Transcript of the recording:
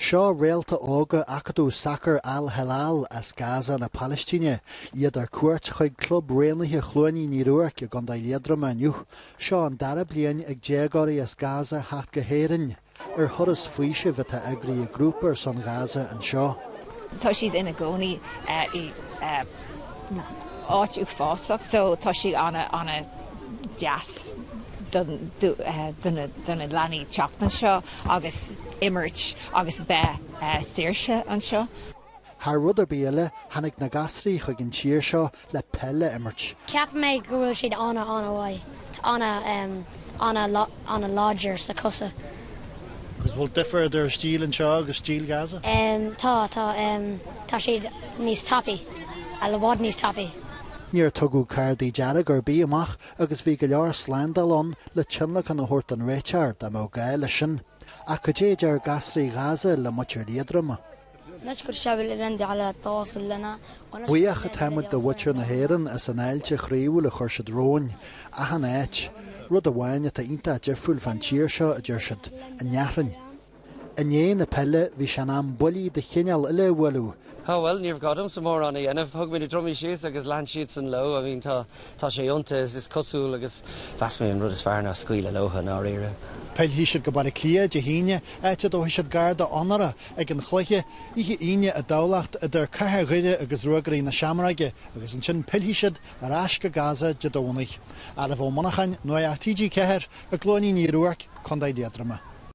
Seo réalta óga acadúil sacair Al-Helal as Gaza na Palaistíne, iad ar cuairt chuig Club Raonaithe Chluainín Uí Ruairc i gContae Liatroma inniu. Seo an dara bliain ag déagóirí as Gaza theacht go hÉirinn ar thuras faoisimh atá eagraithe ag grúpa ar son Ghaza anseo. Tá siad ina gcónaí i áit uafásach so tá sé an-deas do na leanaí teacht anseo. agus imirt agus beith saoirse anseo. Thar rud ar bith eile, tháinig na gasúraí chuig an tír seo le peil a imirt. Ceapann mé go bhfuil siad an-an-mhaith, an-an-láidir sa cosa. Agus bhfuil difear idir a stíl anseo agus stíl Gaza? Tá, tá. Tá siad níos tapaí, i bhfad níos tapaí. Níor tugadh cártaí dearga ar bith amach agus bhí go leor slándála ann le tionlacan a thabhairt don réiteoir dá mbeadh gá leis sin. Ach cad é a deir gasúraí Ghaza le muintir Liatroma? Buíoch atáimid do mhuintir na hÉireann as an fháilte chroíúil a chuir siad romhainn, achan áit. Rud amháin atá iontach difriúil fán tír seo, a dúirt siad, an fhearthainn. I ndiaidh na peile bhí sé in am buillí de chineál eile a bhualadh. Á bhuel, ní raibh gá domsa mórán a dhéanamh. Thug mé na drumaí síos agus lean siadsan leo. I mean, tá, tá sé iontach, is cosúil agus mheas mé an rud is fearr ná scaoileadh leotha, i ndáiríre. Pillfidh siad go Baile Átha Cliath Dé hAoine, áit a dtabharfaidh siad garda onóra ag an chluiche, oíche Aoine i dTamhlacht idir Cathair Dhoire agus Ruagairí na Seamróige agus ansin pillfidh siad ar ais go Gaza Dé Domhnaigh. Ailbhe Ó Monacháin, Nuacht TG4 i gCluainín Uí Ruairc, Co. Liatroma.